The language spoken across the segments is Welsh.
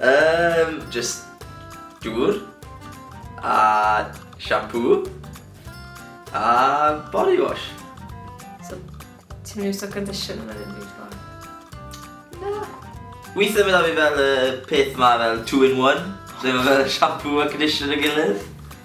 Yym, jyst dŵr, a shampoo, a body wash. So, ti'n mynd iwsio conditioner neu ddim byd fel? Na. Weithiau mynd â fi fel y peth ma fel two in one, lle mae fel shampoo a conditioner yn gilydd.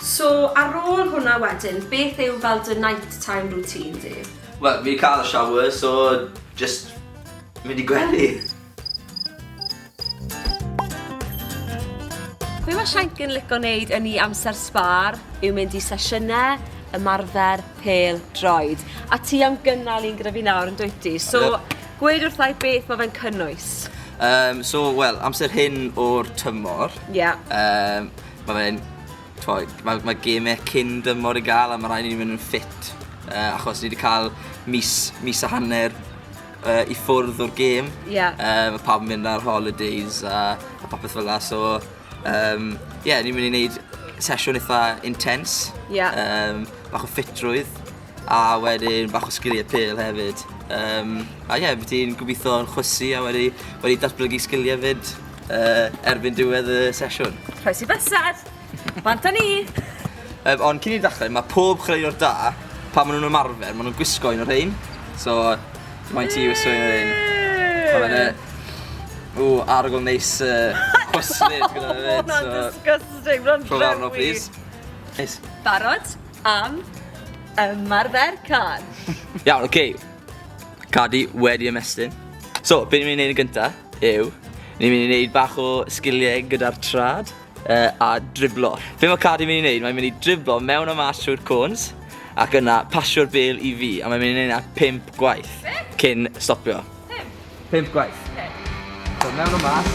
So, ar ôl hwnna wedyn, beth yw fel dy night time routine di? Wel, fi'n cael y shower, so jyst mynd i gwely. Be mae Shank yn lico wneud yn ei amser sbar yw mynd i sesiynau ymarfer pêl droed. A ti am gynnal un gyda fi nawr yn dwyt ti? So, Gwed wrthai beth mae fe'n cynnwys. Um, so, wel, amser hyn o'r tymor. Ie. Yeah. Um, mae fe'n... Mae, mae gemau cyn dymor i gael a mae rhaid i ni mynd yn ffit. Uh, achos ni wedi cael mis, mis a hanner uh, i ffwrdd o'r gêm. Ie. Yeah. Uh, mae pawb yn mynd ar holidays a, a popeth fel la. So, um, yeah, ni'n mynd i wneud sesiwn eitha intense. Ie. Yeah. Um, bach o ffitrwydd. a wedyn bach o sgiliau pêl hefyd. Um, a ie, yeah, ti'n gobeithio yn chwysu a wedi, wedi datblygu sgiliau fyd uh, erbyn diwedd y sesiwn. Rhoes i bysad! Bant â ni! Um, ond cyn i ddechrau, mae pob chwaraewr da, pa maen nhw'n ymarfer, maen nhw'n gwisgo un o'r rhain. So, mae'n ti wisgo un o'r rhain. Mae fe'n e- Ww, arogl neis uh, chwyslyd gyda fe. Mae'n disgusting, mae'n rhywbeth. Rhywbeth arno, please. Neis. Barod? Am ymarfer cân. Iawn, oce. Okay. Cadi wedi ymestyn. So, be ni'n mynd i wneud yn gynta yw, ni'n mynd i wneud bach o sgiliau gyda'r trad uh, a driblo. Be mae Cadi'n mynd i wneud? Mae'n mynd i driblo mewn o mas trwy'r cwns ac yna pasio'r bel i fi a mae'n mynd i wneud yna 5 gwaith cyn stopio. 5? 5 gwaith. Okay. So, mewn o mas.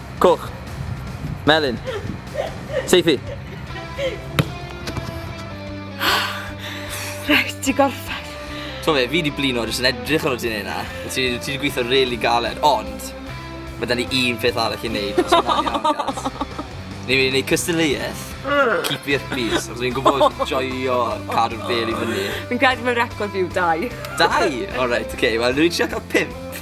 Coch. Melyn. Seithi. Reit, di gorffen. Ti'n fe, fi di blino jyst yn edrych ar o ti'n ei na. Ti di gweithio really galed, ond mae da ni un peth arall i wneud. Ni wedi gwneud cystadleuaeth. Keep it please. Os fi'n gwybod joio cadw'r bel i fyny. Fi'n credu mewn record fi yw dau. Dau? Alright, okay. Wel, rwy'n siarad cael pimp.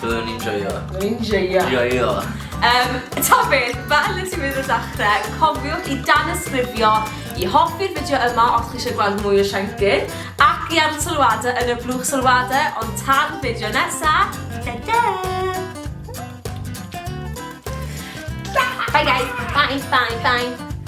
Byddwn ni'n joio. Byddwn ni'n joio. Joio. Um, ta beth, fel y ti'n mynd o dechrau, cofiwch i dan ysgrifio i hoffi'r fideo yma os chi eisiau gweld mwy o Siancyn ac i ar sylwadau yn y blwch sylwadau ond tan fideo nesaf, da da! Bye guys, bye, bye, bye!